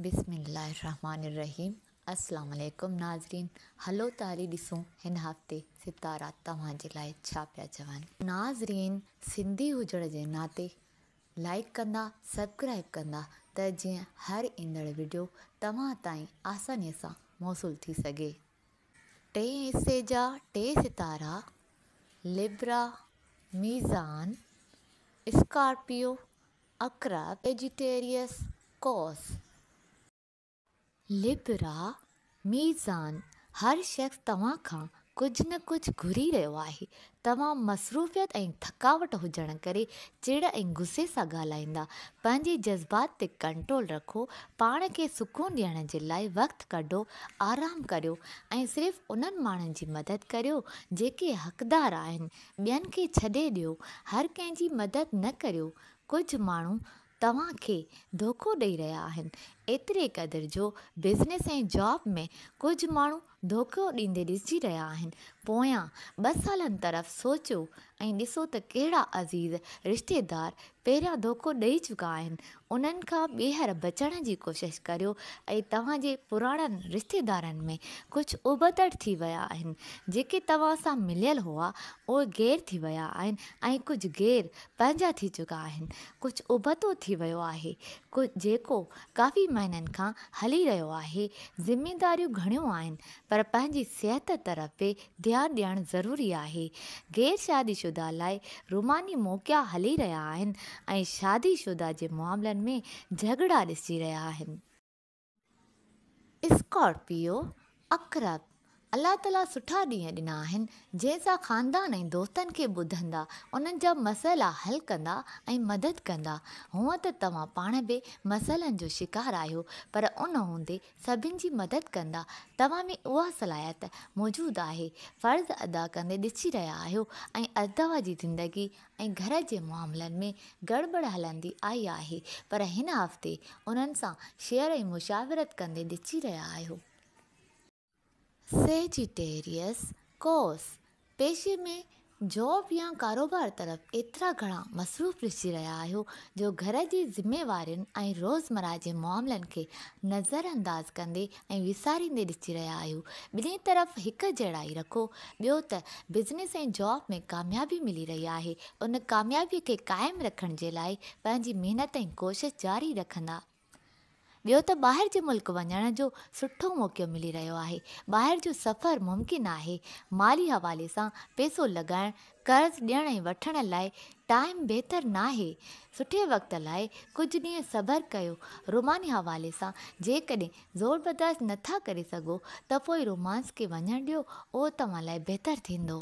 بسم الله الرحمٰن الرحيم السلام عليڪم ناظرين هلو ته هلي ڏسون هن هفتي ستارا توهان جي لاء ڇا پيا چون. ناظرين سنڌي هجڻ جي ناتي لائيڪ ڪندا سبڪرائيب ڪندا ته جيئن هر ايندڙ وڊيو توهان تائين آساني سان موصول ٿي سگهي. ٽئين حصي جا ٽي ستارا لبرا، ميزان، اسڪارپيو اڪرا، سيجيٽيريس، قوس. لبرا، ميزان، هر شخص توهان کان ڪجهه نه ڪجهه گهري رهيو آهي. توهان مصروفيت ۽ ٿڪاوٽ هجڻ ڪري چڙ ۽ غصي سان ڳالهائيندا. پنهنجي جذبات تي ڪنٽرول رکو. پاڻ کي سڪون ڏيڻ جي لاء وقت ڪڍو، آرام ڪريو ۽ صرف انهن ماڻهن جي مدد ڪريو جيڪي حقدار آهن ٻين کي ڇڏي ڏيو، هر ڪنهن جي مدد نه ڪريو، ڪجهه ماڻهو توهان کي ڌوڪو ڏئي رهيا آهن، ايتري قدر جو بزنس ۽ جاب ۾ ڪجهه ماڻهو ڌوڪو ڏيندي ڏسجي رهيا آهن، پويان ٻه سالن طرف سوچيو ۽ ڏسو ته ڪهڙا عزيز رشتيدار پهريان ڌوڪو ڏئي چڪا آهن انهن کان ٻيهر بچڻ جي ڪوشش ڪريو ۽ توهان جي پراڻن رشتيدارن ۾ ڪجهه ابتڙ ٿي ويا آهن جيڪي توهان سان مليل هئا اهي غير ٿي ويا آهن ۽ ڪجهه غير پنهنجا ٿي چڪا آهن ڪجهه ابتو ٿي ويو آهي جيڪو ڪافي مهينن کان هلي رهيو آهي ذميداريون گهڻيون آهن پر پنهنجي صحت طرف به ڌيان ڏيڻ ضروري آهي، غير شادي شده لاء روماني موقعا هلي رهيا آهن ۽ شادي شده جي معاملن ۾ جهڳڙا ڏسجي رهيا آهن. اسڪارپيو، عقرب، الله تعاليٰ سٺا ڏينهن ڏنا آهن، جنهن سان خاندان ۽ دوستن کي ٻڌندا، انهن جا مسئلا حل ڪندا ۽ مدد ڪندا. هونئن ته توهان پاڻ به مسئلن جو شڪار آهيو، پر ان هوندي سڀن جي مدد ڪندا، توهان ۾ اها صلاحيت موجود آهي، فرض ادا ڪندي ڏسي رهيا آهيو ۽ توهان جي زندگي ۽ گهر جي معاملن ۾ گڙٻڙ هلندي آئي آهي پر هن هفتي انهن سان شيئر ۽ مشاورت ڪندي ڏسي رهيا آهيو. سيجيٽيريس، قوس، پيشي ۾ جاب يا ڪاروبار طرف ايترا گهڻا مصروف ڏسجي رهيا آهيو جو گهر جي ذميوارين ۽ روزمره جي معاملن کي نظرانداز ڪندي ۽ وساريندي ڏسجي رهيا آهيو. ٻنهي طرف هڪ جهڙائي رکو. ٻيو ته بزنس ۽ جاب ۾ ڪاميابي ملي رهي آهي، ان ڪاميابي کي قائم رکڻ جي لاء پنهنجي محنت ۽ ڪوشش جاري رکندا ٻيو ته ٻاهر جي ملڪ وڃڻ جو سٺو موقعو ملي رهيو آهي، ٻاهر جو سفر ممڪن آهي، مالي حوالي سان پيسو لڳائڻ، قرض ڏيڻ ۽ وٺڻ لاء ٽائيم بهتر ناهي، سٺي وقت لاء ڪجهه ڏينهن صبر ڪيو، روماني حوالي سان جيڪڏهن زور برداشت نه ٿا ڪري سگهو ته پوء رومانس کي وڃڻ ڏيو، اهو توهان لاء بهتر ٿيندو.